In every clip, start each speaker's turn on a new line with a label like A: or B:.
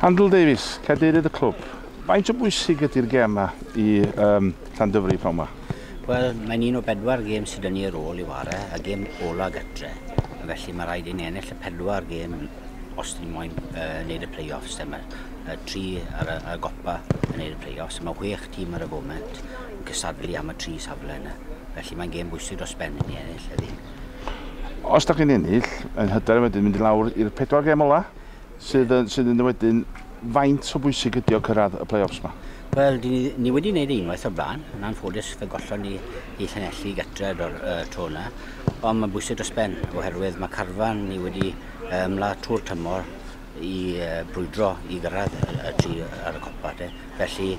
A: Handel Davies, cadeirydd y clwb. Faint o bwysig ydy'r gêm yma i um, Llandyfri pnawn yma? Wel, mae'n un
B: o bedwar gêm sydd yn ni ar ôl i ware, a gêm ola gytre. Felly mae rhaid i ni ennill y pedwar gêm os ni moyn uh, wneud y play-offs. Dyma uh, tri ar y, ar y gopa yn wneud y play-offs. Mae chwech tîm ar y foment yn cysadlu am y tri safle yna. Felly mae'n gêm bwysig dros ben i ni ennill heddi. Os
A: da chi'n ennill, yn hyder wedyn mynd i lawr i'r pedwar gêm ola? Sydd yn, sydd yn wedyn, faint o bwysig ydi o cyrraedd y play-offs ma? Wel, ni, ni
B: wedi gwneud ei unwaith o'r blaen. Yn anffodus, fe gollon ni i Llanelli gatref o'r uh, tro yna. Ond mae'n bwysig dros ben, oherwydd mae carfan ni wedi ymla trwy'r tymor i uh, brwydro i gyrraedd y, y tri ar y copa. De. Felly,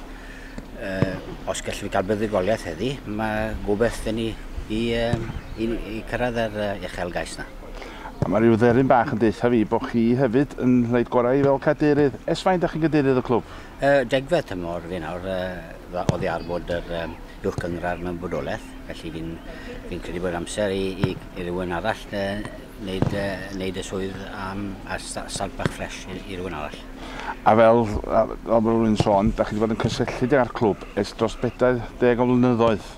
B: uh, os gallwn ni gael buddigoliaeth heddi, mae gobeith gen ni i, uh, i, i cyrraedd yr uh, uchel gais yna. A mae rhyw dderyn
A: bach yn deutha fi bo chi hefyd yn wneud gorau fel cadeirydd. Ers faint da chi'n gadeirydd y clwb? Yy degfed tymor
B: fi nawr, yy oddi ar fod yr yym uwch gynghrair mewn bodolaeth, felly fi'n fi'n credu bod amser i i i rywun arall yy neud yy neud y swydd am a sta- start bach ffresh i i rywun arall. A fel
A: yy fel bo rywun sôn, da chi di bod yn cysylltiedig â'r clwb ers dros bedair deg o flynyddoedd.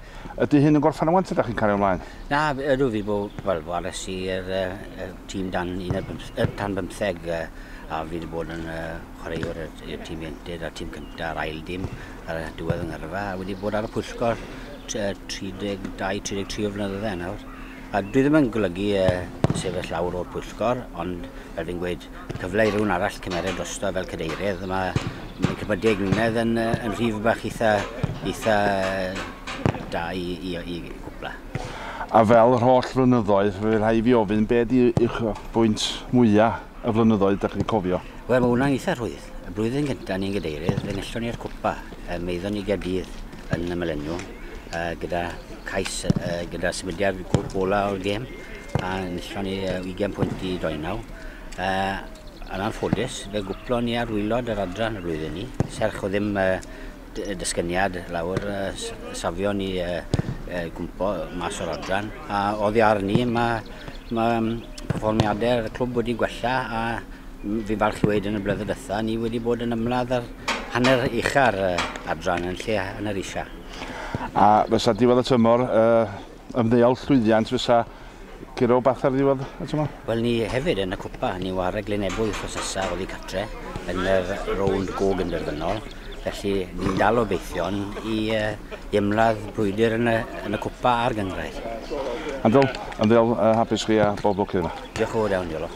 A: Ydy hyn yn gorffen wan ta da chi'n cario mlaen? Na, ydw fi bo,
B: wel, wares i yr uh, tîm dan, un ar bymth, uh, tan bymtheg uh, a fi wedi bod yn uh, chwaraewr i'r tîm iented a'r tîm cyntaf a'r ail dim ar y diwedd yng Ngyrfa a wedi bod ar y pwyllgor 32-33 o flynyddoedd nawr. A dwi ddim yn golygu yy sefyll lawr o'r pwyllgor, ond fel fi'n gweud, cyfle i rywun arall cymeryd drosto fel cadeirydd, ma' ma' cippa deg mlynedd yn yy yn rhif bach itha itha da i i i gwpla. A fel
A: yr holl flynyddoedd, fe rhai' fi ofyn, be' 'di uchafbwynt mwya' y flynyddoedd 'dach chi'n cofio? Wel ma' wnna'n itha
B: rhwydd. Y blwyddyn gynta' o'n i'n gadeirydd, fe nillon ni'r cwpa, yym aethon ni i Gaerdydd, yn ymyl enw gyda cais gyda sefydliad gola o'r gêm a nisio ni 20 pwynt i doi naw. Yn anffodus, fe gwplo ni ar wylod yr adran y flwyddyn ni, serch o ddim dysgyniad lawr safio ni gwmpo mas o'r adran. A oddi ar ni, mae ma perfformiadau'r clwb wedi gwella a fi'n falch i weid yn y blynedd dytha, ni wedi bod yn ymladd ar hanner ucha ar y adran yn lle hanner isa. A
A: fysa diwedd y tymor, uh, ymddeol llwyddiant fysa gyro bath ar ddiwedd y tymor? Wel, ni hefyd yn y
B: cwpa, ni war y Glynebwy chosesa oddi catre yn yr rownd gog yn derfynol. Felly, ni'n dal o beithion i, uh, i ymladd brwydr yn y, yn y cwpa a'r gyngrair.
A: Andrew, ymddeol
B: uh,
A: hapus chi a
B: bob lwc
A: iddo.
B: Diolch yn fawr
A: iawn, Iolo.